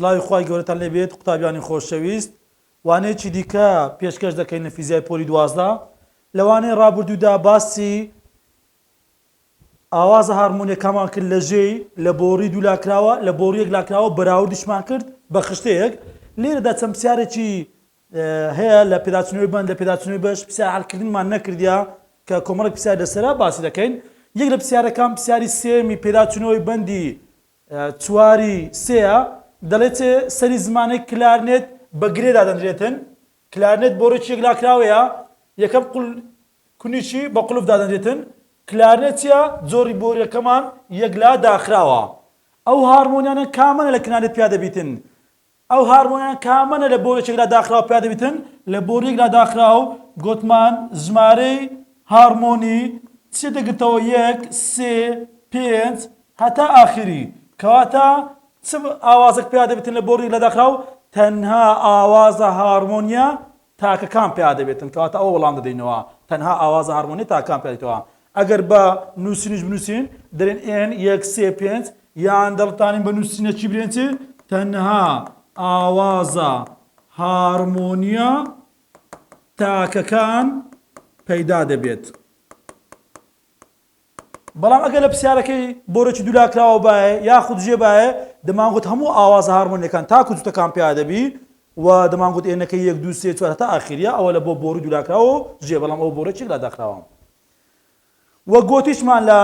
سڵاوی خوای گەورەتان لێبێت قوتابیانی خۆشەویست وانەیەکی دیکە پێشکەش دەکەین لە فیزیای پۆلی دوازدە لەوانەیە ڕابردوودا باسی ئاوازە هارمۆنیەکامان کرد لە ژێی، لە بۆڕی دوو لاکراوە، لە بۆڕیەک لاکراوە بەراوردیشمان کرد بە خشتەیەک، لێرەدا چەند پسیارێکی هەیە لە پێداچونەوەی بەند لە پێداچونەوەی بەش پسیار حەلکردنمان نەکردیە کە کۆمەڵێک پسیار لەسەرە باسی دەکەین یەک لە پسیارەکان پسیاری سێیەمی پێداچونەوەی بەندی چواری سێیە دەڵێت سەری زمانەی کلارنێت بە گرێ دادەنرێتن کلارنێت بۆڕێکی یەک لاکراوەیە یەکەم قول کونیچی بە قولف دادەنرێتن. کلارنێت چیە؟ جۆری بۆریەکەمان یەکلا داخراوە. ئەو هارمۆنیانە کامەنە لە کلارنێت پیا دەبیتن؟ ئەو هارمۆنیانە کامەنە لە بۆریەک یەکلا داخراو پیا دەبیتن؟ لە بۆری یەکلا داخراو گۆتمان ژمارەی هارمۆنی چیە دەگرتەوە یەک، سێ، پێنج هەتا ئاخیری. کەواتە چ ئاوازەک پیا دەبیتن لە بۆری یەکلا داخراو؟ تەنها ئاوازە هارمۆنیە تاکەکان پیادەبێتن کەواتە ئەوە وەڵام دەدەینەوە تەنها ئاوازە هارمۆنیە تاکەکان پیادێتەوە ئەگەر بە نوسینیش بنوسین دەلێن ئێن یەک سێ پێنج یان دەڵتانین بە نوسینە چی بلێن چی تەنها ئاوازە هارمۆنیە تاکەکان پەیدا دەبێت. بەڵام ئەگەر لە پرسیارەکەی بۆرۆکی دوولاکراوە بایە یاخود ژێ بایە دەمانگوت هەموو ئاوازە هارمۆنیەکان تاکو جوتەکان پیا دەبی و دەمانگوت ئێنەکە یەک دوو سێ چوار هەتا ئاخیریا ئەوە لە بۆ بۆری دوولاکراوە و ژێ بەڵام ئەوە بۆرۆکێک لا داخراوە وە گۆتیشمان لە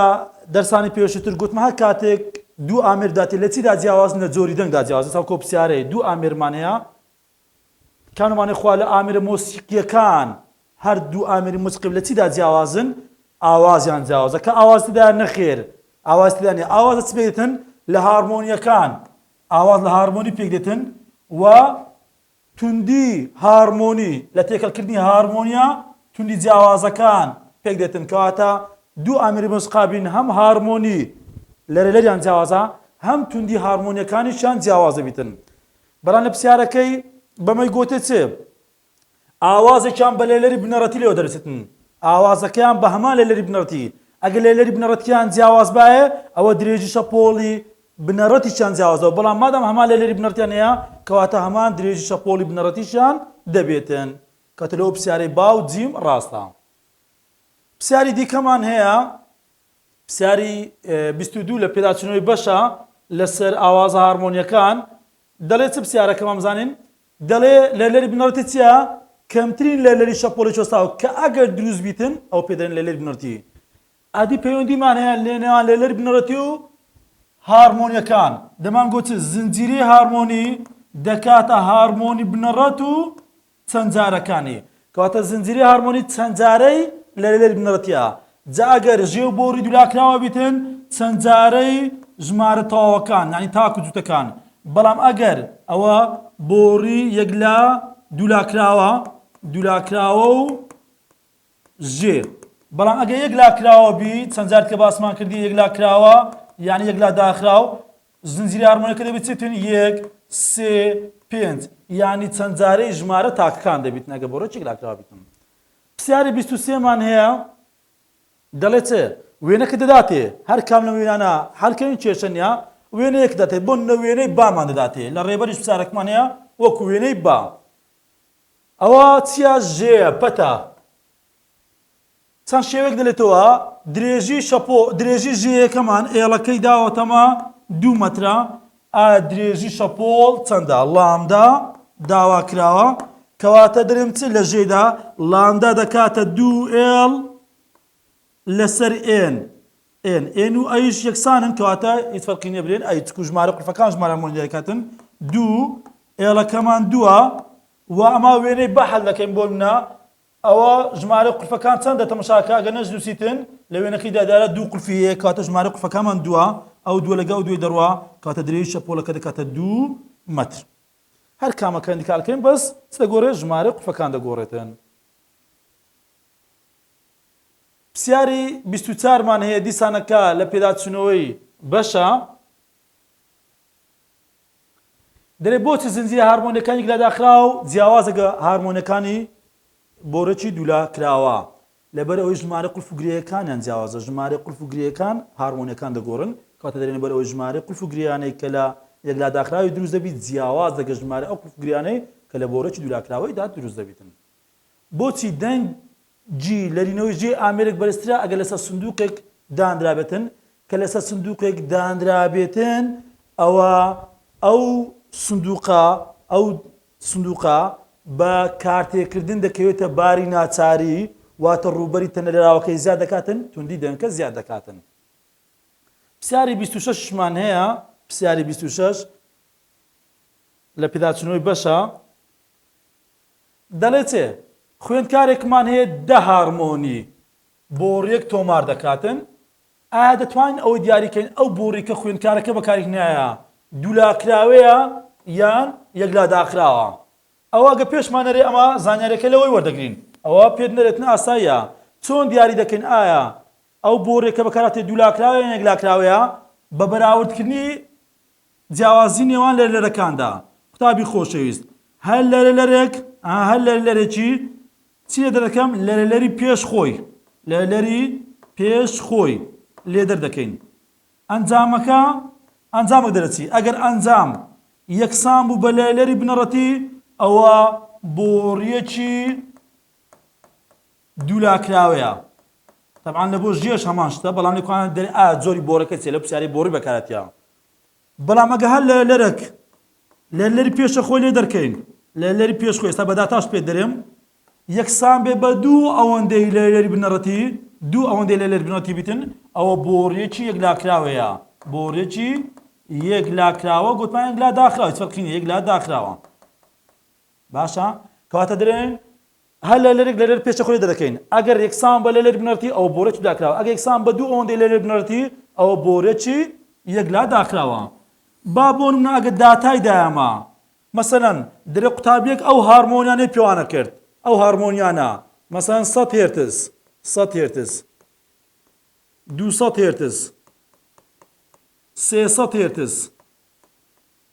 دەرسانی پێشتر گوتمە هەر کاتێک دوو ئامێر داتێ لە چیدا جیاوازن لە جۆری دەنگدا جیاوازن ساکۆ پرسیارەیە دوو ئامێرمان هەیە کانومانی خوا لە ئامێرە مۆسیقییەکان، هەر دوو ئامێری مۆسیقی لە چیدا جیاوازن؟ ئاوازیان جیاوازە. کە ئاواز تێدایە؟ نەخێر، ئاواز تێدا نییە. ئاواز لە چی پێکدێتن؟ لە هارمۆنییەکان. ئاواز لە هارمۆنی پێکدێتن و توندی هارمۆنی، لە تێکەڵکردنی هارمۆنییە توندی جیاوازەکان پێکدێتن. کەواتە دوو ئامێری مۆسیقا بین، هەم هارمۆنی لەرەلەریان جیاوازە، هەم توندی هارمۆنییەکانیشیان جیاواز دەبیتن. بەڵام لە پرسیارەکەی بەمەی گۆتێ چ ئاوازێکیان بە لێلەری بنەڕەتی لێوە دەرچتن ئاوازەکەیان بە هەمان لێلەری بنەڕەتی ئەگە لێلەری بنەڕەتیان جیاواز باێ ئەوە درێژی شەپۆڵی بنەڕەتیشیان جیاوازەوە بەڵام مادام هەمان لێلەری بنەڕتیان هەیە کەواتە هەمان درێژی شەپۆڵی بنەڕەتیشیان دەبێتن کەتە لەو پرسیارەی با و جیم ڕاستە پرسیاری دیکەمان هەیە پرسیاری بیست و دوو لە پێداچوونەوەی بەشە لەسەر ئاوازە هارمۆنیەکان دەڵێ چ پرسیارەکە مام زانین؟ دەڵێ لەرلەری بنەڕەتی چیە؟ کەمترین لەرلەری شەپۆڵی چۆستاو کە ئەگەر دروست بیتن ئەوە پێ دەرێن لەرلەری بنەڕەتی ئەدی پەیوەندیمان هەیە لەنێوان لەرلەری بنەڕەتی و هارمۆنیەکان دەمان گۆت چ زنجیرەی هارمۆنی دەکاتە هارمۆنی بنەڕەت و چەند جارەکانی کەواتە زنجیری هارمۆنی چەند جارەی لەلێر بنەڕەتیە جا ئەگەر ژێ و بۆری دولاکراوەبیتن چەند جارەی ژمارە تەواوەکان یانی تاکو جوتەکان بەڵام ئەگەر ئەوە بۆری یەک لا دولاکراوە دولاکراوە و ژێ بەڵام ئەگە یەک لاکراوە بی چەند جار کە باسمان کردی یەک لاکراوە یانی یەک لا داخراو زنجیرەی هارمۆنیەکە دەبێت چێتن یەک سێ پێنج یعنی چەند جارەی ژمارە تاکەکان دەبیت نەگە بۆ ڕێکێک لاکراوابیتن پرسیاری بیست و سێمان هەیە دەڵێ چ وێنەکە دەداتێ هەر کام لە وێنانە هەلکەوین کێشەنیا وێنەیەک دەێت بۆ نە وێنەی بامان دەداتێ لە ڕێبەریش پرسیارەکمان هەیە وەکو وێنەی با ئەوە چیا ژێە پەتا چەند شێوەیەک دەلێتەوە درێژی شەپۆ درێژی ژێیەکەمان ئێڵەکەی داوەتەمە دوو مەترە ئا درێژی شەپۆڵ چەندە لامدا داوا کراوە کەواتە درێم چ لە ژێدا لامدا دەکاتە دوو ئێڵ لەسەر ئێن ئێن ئێن و ئەیش یەکسانن کەواتە هیچ فەرقی نیە برێن ئەی چکو ژمارە قورفەکان ژمارە مۆنیەکەتن دوو ئێڵەکەمان دووە و ئەما وێنەی بەحل دەکەین بۆ منە ئەوا ژمارە قلفەکان چەندە تەمەشاکە ئەگەر نەشنوسیتن لە وێنەکەیدا دارا دوو قلفی هەیە کەواتە ژمارە قلفەکانمان دووە ئەو دووە لەگەڵ ئەو دووی دەڕوا کەواتە درێژی شەپۆڵەکە دەکاتە دوو مەتر هەر کامەکە ئەندیکارکەین بەس چ دەگۆرێت ژمارە قلفەکان دەگۆڕێتن پسیاری بیست و چارمان هەیە دیسانەکە لە پێداچوونەوەی بەشە دەلێ بۆچ زنجیرە هارمۆنیەکانی گلا داخراوە و جیاوازە گە هارمۆنەکانی بۆرەکی دولا کراوە لەبەر ئەوەی ژمارە قلف و گرێیەکانیان جیاوازە ژمارە قلف و گرێیەکان هارمۆنیەکان دەگۆرن کەواتە دەلێن لەبەر ئەوەی ژمارە قلف و گرێیانەی کە لە یەک لا داخراوی دروست دەبیت جیاواز دەگە ژمارە ئەو قلف و گرێیانەی کە لە بۆرەکی دولا کراوەیدا دروست دەبیتن بۆچی دەنگ جی، لەرینەوەی جێی ئامێرێک بەرزترە ئەگەر لەسەر سندووقێک دانرابێتن، کە لەسەر سندووقێک دانرابێتن ئەوا ئەو سندووقە ئەو سندووقە بە کارتێکردن دەکەوێتە باری ناچاری، واتە ڕووبەری تەنەلەراوەکەی زیاد دەکاتن، توندی دەنکە زیاد دەکاتن. پرسیاری بیست و شەش مان هەیە، پرسیاری بیست و شەش لە پێداچوونەوەی بەشە، دەڵێت، خوێندکارێکمان هەیە دە هارمۆنی بۆڕییەک تۆمار دەکاتن، ئایا دەتوانین ئەوە دیاری کەین ئەو بۆڕی کە خوێندکارەکە بەکاریهنایە دوولاکراوەیە یان یەکلاداخراوە؟ ئەوە ئەگە پێشمان نەرێ ئەمە زانیاریەکە لەوەی وەردەگرین. ئەوە پێت نەرێتن ئاساییە. چۆن دیاری دەکەین ئایا ئەو بۆڕیە کە بەکارهاتێ دوولاکراوەیە یان یەکلاکراوەیە بە بەراوردکردنی جیاوازی نێوان لەرلەرەکاندا. قوتابی خۆشەویست، هەر لەرلەرێک، ئەها هەر لەرلەرێکی چی لێ دەردەکەم؟ لەرلەری پێش خۆی، لەرلەری پێش خۆی لێ دەردەکەین. ئەنجامەکە، ئەنجامەک دەرەچی. ئەگەر ئەنجام یەکسان بوو بە لەرلەری بنەڕەتی، ئەوا بۆڕییەکی دوو لا کراوەیە تەبعان لە بۆ ژێش هەمان شتە بەڵام لەکوانە دەر ئا جۆری بۆرەکە چێ لە پرسیاری بۆڕی بەکارەتیا بەڵام ئەگە هەر لە لەرەک لە لەری پێشە خۆی لێ دەرکەین لە لەری پێش خۆی ئێستا بەداتاش پێ دەرێم یەکسان بێ بە دوو ئەوەندەی لە لەری بنەڕەتی دوو ئەوەندەی لە لەر بنەڕەتی بیتن ئەوە بۆڕیەکی یەک لاکراوەیە بۆڕێکی یەک لاکراوە گوتمان یەک لا داخراوە فەرقینە یەک لا داخراوە باشە کەواتە درێن هەر لە لەرێک لە لەر پێچەخوێ دەرەکەین. ئەگەر یەکسان بە لە لەر بنەرتی ئەوە بۆ رێکی داکراوە. ئەگەر یەکسان بە دوو ئەوەندەی لە لەر بنەرتی ئەوە بۆ رێکی یەکلا داکراوە. با بۆ نمونە ئەگەر داتای دایەمە مەسەلەن درە قوتابیەک ئەو هارمۆنیانەی پێوانە کرد ئەو هارمۆنیانە مەسەلەن سەد هێرتز سەد هێرتز دوو سەد هێرتز سێ سەد هێرتز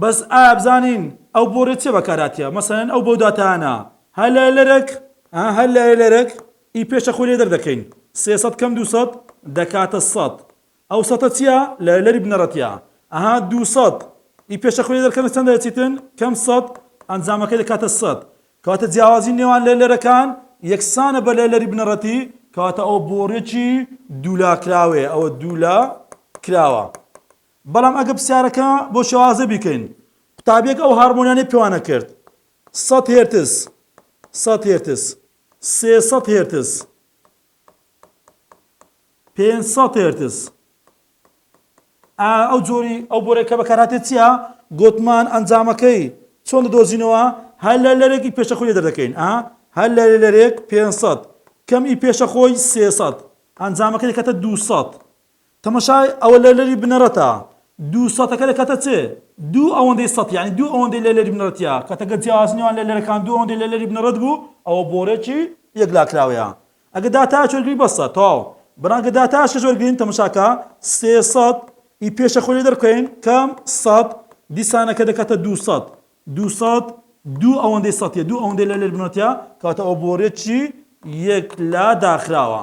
بەس ئایا بزانین ئەو بۆ رێ چێ بەکارهاتیە مەسەلەن ئەو بەو داتایانە هەر لای لەرەک ها هەر لای لەرەک ئی پێشە خۆی لێ دەردەکەین سێ سەد کەم دوو سەد دەکاتە سەد ئەو سەتە چیە لای لەری بنەڕەتیە ئەها دوو سەد ئی پێشە خۆی لێ دەرکەن چەند دەچیتن کەم سەد ئەنجامەکەی دەکاتە سەد کەواتە جیاوازی نێوان لای لەرەکان یەکسانە بە لای لەری بنەڕەتی کەواتە ئەوە بۆڕێکی دوولا کراوەیە ئەوە دوولا کراوە بەڵام ئەگەر پرسیارەکە بۆ شێوازە بیکەین، قوتابییەک ئەو هارمۆنیانەی پێوانە کرد، سەد هێرتز، سەد هێرتز، سێ سەد هێرتز، پێنج سەد هێرتز، ئەو جۆری ئەو بۆرەی کە بەکارهاتێت چییە گوتمان ئەنجامەکەی چۆن دەدۆزینەوە هەر لە لەرێکی پێشە خۆی دەردەکەین ئا هەر لە لەرێک 500 کەم ئی پێشە خۆی 300 ئەنجامەکە دەکاتە 200 تەماشای ئەوە لەرلەری بنەڕەتە دوو سەتەکە دەکاتە چ؟ دوو ئەوەندەی سەت یانی دوو ئەوەندەی لەرلەری بنەڕەتیە کاتە گەر جیاوازی نێوان لەرلەرەکان دوو ئەوەندەی لەرلەری بنەڕەت بوو ئەوە بۆڕێکی یەکلاکراوەیە ئەگەر داتایەکی وەرگرین بەسە تەواو بەران ئەگەر داتایەکیش وەرگرین تەماشاکە سێ سەت ی پێشە خۆی لێ دەربکەین کام سەت دیسانەکە دەکاتە دوو سەت دوو سەت دوو ئەوەندەی سەتیە دوو ئەوەندەی لەرلەری بنەڕەتیە کاتە ئەوە بۆڕێکی یەکلاداخراوە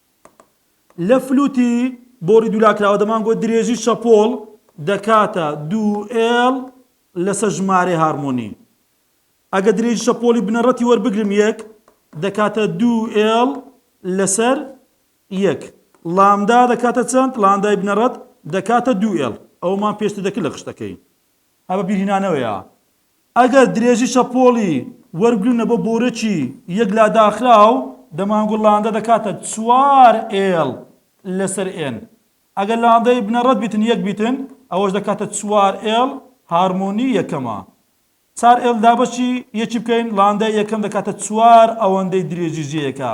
لە فلوتی بۆڕی دوولاکراوە دەمانگۆ درێژی شەپۆڵ دەکاتە دوو ئێڵ لەسەر ژمارەی هارمۆنی. ئەگە درێژی شەپۆڵی بنەڕەتی وەربگرم یەک دەکاتە دوو ئێڵ لەسەر یەک. لامدا دەکاتە چەند؟ لاندای بنەڕەت دەکاتە دوو ئێڵ. ئەوەمان پێشتر دەکرد لە خشتەکەی. ئە بە بیرهینانەوەیە ئەگەر درێژی شەپۆڵی وەرگرنە بۆ بۆرەکی یەک لا داخراو دەمانگوڵ لاندە دەکاتە چوار ئێڵ لەسەر ئێن ئەگەر لاندەی بنەڕەت بیتن یەک بیتن ئەوەش دەکاتە چوار ئێڵ هارمۆنی یەکەمە چار ئێڵ دابەشی یەکی بکەین لاندەی یەکەم دەکاتە چوار ئەوەندەی درێژی ژێیەکە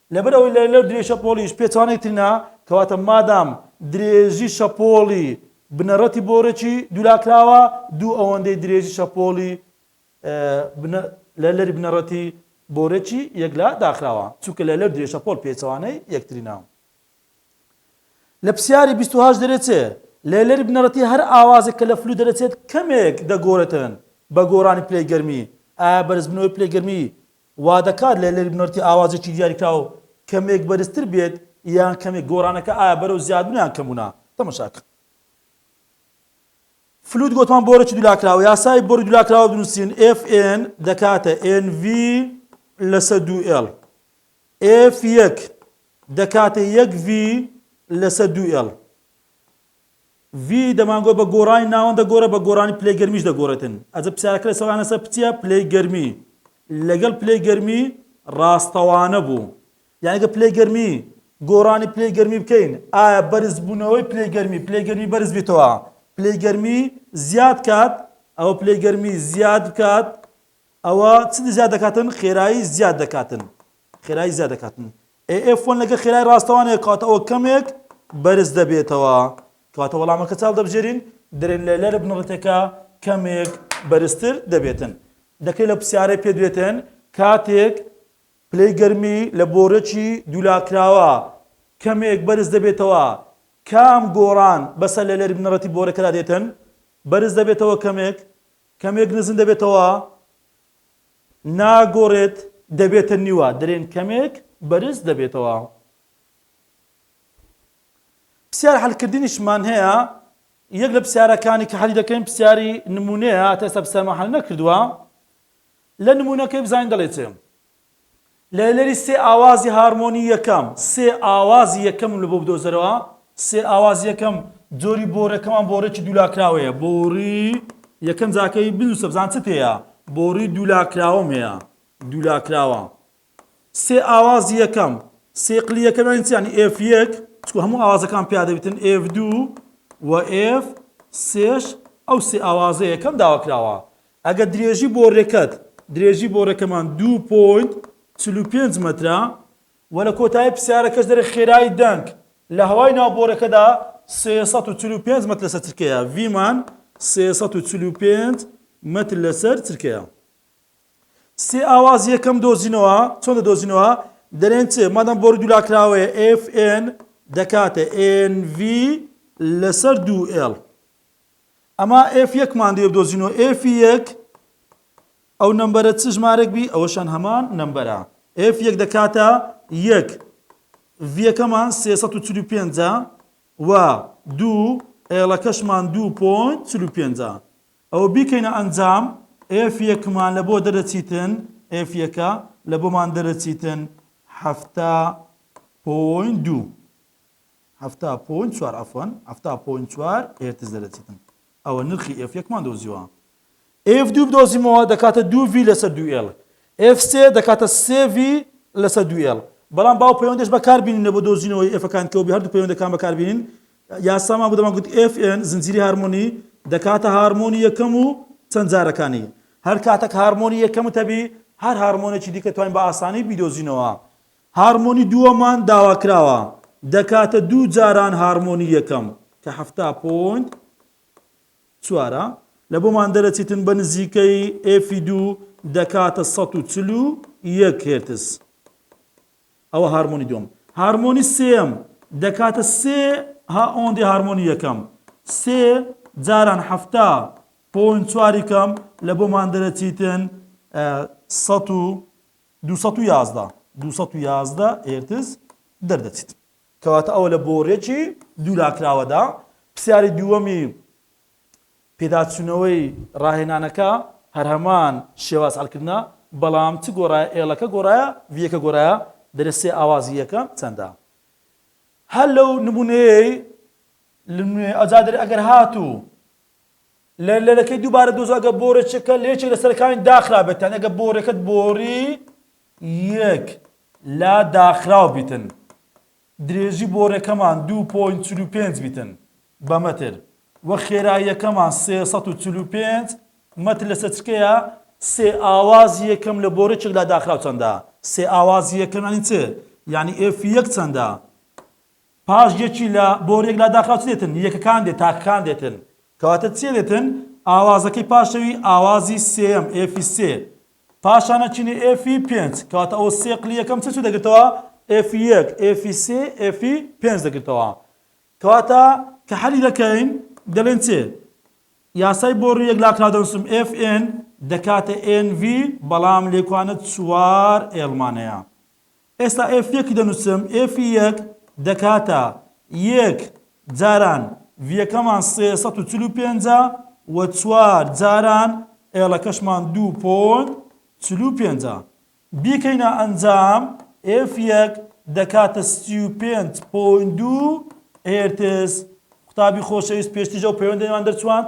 لەبەر ئەوەی لە لەو درێژ شەپۆڵیش پێچەوانەی تر نا، کەواتە مادام درێژی شەپۆڵی بنەڕەتی بۆرەکی دوولاکراوە، دوو ئەوەندەی درێژی شەپۆڵی لە لەری بنەڕەتی بۆرەکی یەکلا داخراوە، چونکە لە لەو درێژ شەپۆڵ پێچەوانەی یەکتری نا. لە پرسیاری بیست و هەشت دەرێچێ، لە لەری بنەڕەتی هەر ئاوازێک کە لە فلوت دەرەچێت کەمێک دەگۆرێتن بە گۆرانی پلەی گەرمی، ئایا بەرزبوونەوەی پلەی گەرمی وادەکات لە لێرک نۆرتی ئاوازێکی دیاریکراو کەمێک بەرزتر بێت یان کەمێک گۆرانەکە ئایا بەرەو زیادبونە یان کەمبونە تەمەشاکە. فلوت گۆتمان بۆرەکی دولاکراوە یاسای بۆری دولاکراوە بنوسین FN دەکاتە NV لەسە دوو L F یەک دەکاتە یەک V لەسە دوو L ڤی دەمانگۆ بە گۆرانی ناوەند دەگۆرێت بە گۆرانی پلەی گەرمیش دەگۆرێتن ئەجە پسیارەکە لە سەوانە سەر پچیە پلەی گەرمی لەگەڵ پلەی گەرمی ڕاستەوانە بوو یعنی گە پلەی گەرمی گۆرانی پلەی گەرمی بکەین ئایا بەرز بوونەوەی پلەی گەرمی پلەی گەرمی بەرز بیتەوە پلەی گەرمی زیاد کات ئەوە پلەی گەرمی زیاد بکات ئەوە چ زیاد دەکاتن خێرایی زیاد دەکاتن خێرایی زیاد دەکاتن ئێ ئێف وەن لەگەڵ خێرای ڕاستەوانەیە کاتەوە کەمێک بەرز دەبێتەوە کاتە وەڵامەکە چاڵ دەبژێرین درێن لە لەرە بنەڕەتەکە کەمێک بەرزتر دەبێتن دەکرێت لە پرسیارەی پێ دوێتن کاتێک پلەی گەرمی لە بۆرەکی دوولاکراوە کەمێک بەرز دەبێتەوە کام گۆڕان بەسەر لە لەری بنەڕەتی بۆرەکەدا دێتن بەرز دەبێتەوە کەمێک کەمێک نزم دەبێتەوە ناگۆرێت دەبێتە نیوە درێن کەمێک بەرز دەبێتەوە. پسیار حەلکردنیشمان هەیە یەک لە پسیارەکانی کە حەلی دەکەین پسیاری نمونەیە تێستا پسیارمان حەل نەکردووە لە نمونەکەی بزانین دەڵێ چێ لەهنەری سێ ئاوازی هارمۆنی یەکەم سێ ئاوازی یەکەمم لەبۆ بدۆزەرەوە سێ ئاوازی یەکەم جۆری بۆرەکەمان بۆڕێکی دوولاکراوەیە بۆڕی یەکەم جاکەی بنووسە بزان چت هەیە بۆڕی دوولاکراوەم هەیە دوولاکراوە سێ ئاوازی یەکەم سێ قلی یەکەمان چیانی ئف یەک چکو هەموو ئاوازەکان پیادەبتن ئف دوو و ئف سێش ئەو سێ ئاوازە یەکەم داواکراوە ئەگەر درێژی بۆڕێکەت، درێژی بۆڕێکەمان دوو پۆینت چل و پێنج مەترە و لە کۆتایی پرسیارەکەش دەرێ خێرایی دەنگ لە هەوای ناو بۆڕێکەدا سێ سەد و چل و پێنج مەتر لەسەر چرکەیە، ڤی مان سێ سەد و چل و پێنج مەتر لەسەر چرکەیە. سێ ئاواز یەکەم دۆزینەوە، چۆن دەدۆزینەوە؟ دەرێن چ مادەم بۆڕی دوولاکراوەیە، ئێف ئێن دەکاتە ئێن ڤی لەسەر دوو ئێڵ. ئەما ئێف یەکمان دێ بدۆزینەوە ئێفی یەک ئەو نمبەرە چ ژمارەک بی ئەوەشان هەمان نمبەرە ئێف یەک دەکاتە یەک ڤەکەمان سێ پێ و دوو ئێڵەکەشمان دوو پۆین چلو پێنجە ئەوە بیکەینە ئەنجام ئێف یەکمان لە بۆ دەرەچیتن ئێف یەکە لە بۆمان دەرەچیتن هەفتا پۆین دوو حەفتا پۆینت چوار عەفوەن حەفتا پۆینت چوار هێرتز دەرەچیتم ئەوە نرخی ئێف یەکمان دۆزیوە ئێف دوو بدۆزیمەوە دەکاتە دوو ڤی لەسەر دوو ئێڵ ئێف سێ دەکاتە سێ ڤی لەسەر دوو ئێڵ بەڵام باو پەیوەندەش بەکاربینینە بۆ دۆزینەوەی ئێفەکان کەوبی هەردوو پەیوەندەکان بەکاربینین یاسامان بۆ گوت FN زنجیری هارمۆنی دەکاتە هارمۆنی یەکەم و چەند جارەکانی هەر کاتەک هارمۆنی یەکەمتەبی هەر هارمۆنێکی دیکە توانین بە ئاسانی بیدۆزینەوە هارمۆنی دووەمان داواکراوە دەکاتە دوو جاران هارمۆنی یەکەم کە حەفتا پۆینت چوارە لە بۆمان دەرەچیتن بە نزیکەی ئێفی دوو دەکاتە سەد و چل و یەک هێرتز ئەوە هارمۆنی دوم هارمۆنی سێم دەکاتە سێ ها ئۆندی هارمۆنی یەکەم سێ جاران هەفتا پۆین چواری کەم لە بۆمان دەرەچیتن سە و دوو سەد و یازدە دوو سەد و یازدە هێرتز دەردەچیت کەواتە ئەوە لە بۆڕیەکی دوولاکراوەدا پرسیاری دووەمی پێداچوونەوەی ڕاهێنانەکە هەر هەمان شێواز هەڵکردنە بەڵام چ گۆڕایە ئێڵەکە گۆڕایە ڤیەکە گۆرایە دەرێ سێ ئاوازی یەکەم چەندە هەر لەو نمونەیەی لە ئەجا دەرێ ئەگەر هاتوو لە لەرەکەی دووبارە دۆزە ئەگەر بۆڕێچەکە لە یەکێک لە سەرەکانی داخرا بێت یان ئەگەر بۆڕێکەت بۆڕی یەک لا داخراو بیتن درێژی بۆرەکەمان 2.45 بیتن بە مەتر و خێراییەکەمان 345 مەتر لە سەچکەیە سێ ئاوازی یەکەم لە بۆرەچێک لا داخراو چەندە سێ ئاوازی یەکەم ینی چ یعنی ئف یەک چەندە پاش یەکی لە بۆریەک لاداخراو چ دێتن؟ یەکەکان دێ تاکەکان دێتن. کەواتە چیە دێتن؟ ئاوازەکەی پاشەوی ئاوازی سێیەم، ئێفی سێ. پاشانە چینی ئێفی پێنج. کەواتە ئەوە سێ قلی یەکەم چ چ دەگرتەوە؟ ئێفی یەک، ئێفی سێ، ئێفی پێنج دەگرتەوە. کەواتە کە حەلی دەکەین دەلێن چ؟ یاسای بۆری یەک لاکراو دەنوسم ئێف ئێن دەکاتە ئێن ڤی بەڵام لێکوانە چوار ئێڵمان هەیە. ئێستا ئێف یەک دەنووسم، ئێفی یەک دەکاتە یەک جاران ڤییەکەمان سێ سەد و چل و پێنج ە و چوار جاران ئێڵەکەشمان دوو پۆنت چل و پێنج ە. بیکەینە ئەنجام، ئێف یەک دەکاتە سی و پێنج پۆنت دوو هێرتز. قوتابی خۆشەویست پێشتریش ئەو پەیوەندەیەمان دەرچوواند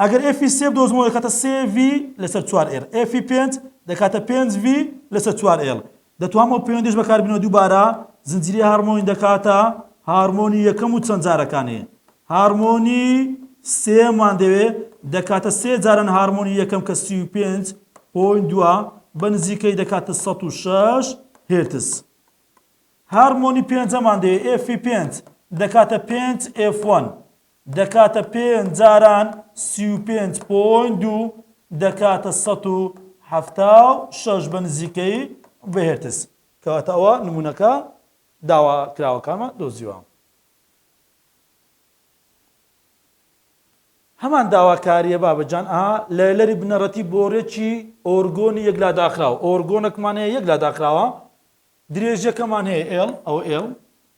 ئەگەر ئێفی سێ بدۆزمەوە دەکاتە سێ ڤی لەسەر چوار ئێل، ئێفی پێنج دەکاتە پێنج ڤی لەسەر چوار ئێل. دەتوانم ئەو پەیوەندیەش بەکاربینەوە دووبارە زنجیرەی هارمۆنی دەکاتە هارمۆنی یەکەم و چەند جارەکانێ هارمۆنی سێمان دەوێ دەکاتە سێ جاران هارمۆنی یەکەم کە سی و پێنج پۆین دووە بە نزیکەی دەکاتە سەد و شەش هێرتز هارمۆنی پێنجەمان دەوێ ئێفی پێنج دەکاتە پێنج ئێف وەن دەکاتە پێنج جاران سی و پێنج پۆینت دوو دەکاتە سەد و حەفتا و شەش بە نزیکەیی بە هێرتز. کەواتە ئەوە نموونەکە داواکراوەکانمان دۆزیوە. هەمان داواکاریە بابەجان ئا لەلەری بنەڕەتی بۆرێکی ئۆرگۆنی یەک لا داخراو ئۆرگۆنەکمان هەیە یەک لا داخراوە درێژەکەمان هەیە ئێڵ ئەو ئێڵ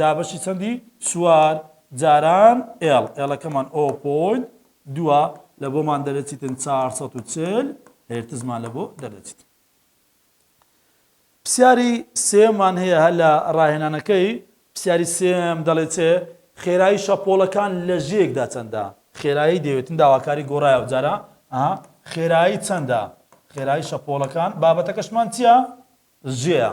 دابەشی چەندی چوار جاران ئێڵ ئێڵەکەمان ئۆ پۆینت دووە لە بۆمان دەرەچیتن 440 هێرتزمان لە بۆ دەرەچیت پرسیاری سێمان هەیە هە لە ڕاهێنانەکەی پرسیاری سێم دەڵێت چێ خێرایی شەپۆڵەکان لە ژێکدا چەندە خێرایی دەوێتن داواکاری گۆڕایە جارە خێرایی چەندە خێرایی شەپۆڵەکان بابەتەکەشمان چییە ژێە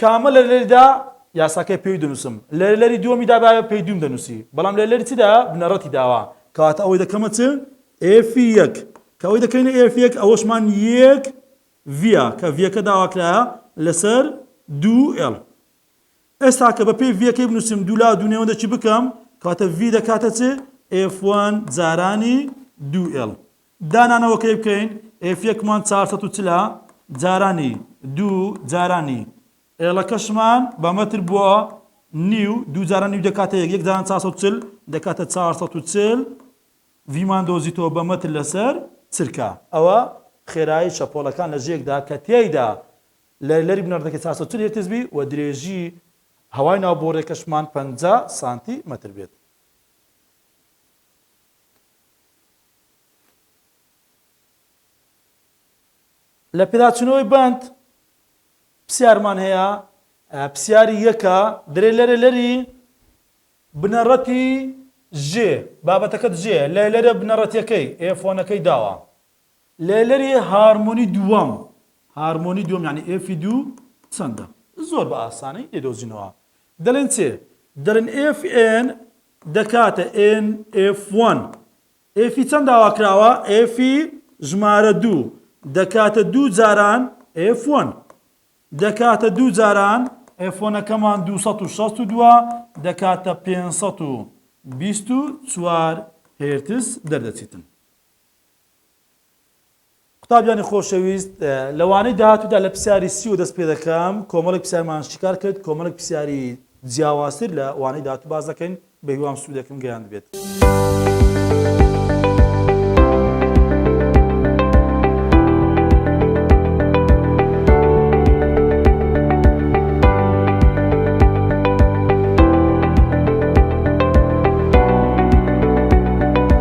کامە لەرلەریدا یاساکەی پێوی دەنووسم لەرلەری دووەمی دابایە پێی دووم دەنووسی بەڵام لەرلەری چدا بنەڕەتی داوە کەواتە ئەوەی دەکەمە چ ئێفی یەک کە ئەوەی دەکەینە ئێفی یەک ئەوەشمان یەک ڤیە کە ڤیەکە داواکرایە لەسەر دوو ئێڵ ئێستا کە بە پێی ڤیەکەی بنووسم دوو لا دوو نێوەندەکی بکەم کەواتە ڤی دەکاتە چ ئێف وان جارانی دوو ئێڵ دانانەوەکەی بکەین ئێف یەکمان چوار سەد و چل ە جارانی دوو جارانی ئێڵەکەشمان بە مەتر بووە نیو دوو جاران نیو دەکاتە یەک یەک جاران چوار سەد و چل دەکاتە چوار سەد و چل ڤیمان دۆزیتەوە بە مەتر لەسەر چرکە ئەوە خێرایی شەپۆڵەکان لە ژێکدا کە تێیدا لە لەری بنەڕەتەکەی چوار سەد و چل هێرتز بی و درێژی هەوای ناو بۆڕیەکەشمان پەنجا سانتی مەتر بێت. لە پێداچوونەوەی بەند پسیارمان هەیە پسیاری یەکە درێ لەرە لەری بنەڕەتی ژێ بابەتەکەت ژێ لە لەرە بنەڕەتەکەی ئێفۆنەکەی داوە لە لەری هارمۆنی دووەم هارمۆنی دووەم یعنی ئێفی دوو چەندە زۆر بە ئاسانی لێدۆزینەوە دەلێن چێ؟ دەلێن ئێف ئێن دەکاتە ئێن ئێف وەن. ئێفی چەند داواکراوە؟ ئێفی ژمارە دوو. دەکاتە دوو جاران ئێف وەن. دەکاتە دوو جاران ئێف وەنەکەمان دوو سەد و شەست و دوو دەکاتە پێنج سەد و بیست و چوار هێرتز دەردەچیتن. قوتابیانی خۆشەویست، لە وانەی داهاتوودا لە پرسیاری سی وە دەست پێ دەکەم، کۆمەڵێک پرسیارمان شیکار کرد، کۆمەڵێک پرسیاری جیاوازتر لە وانەی داهاتوو باس دەکەین، بە هیوام سوودێکم گەیاندبێت.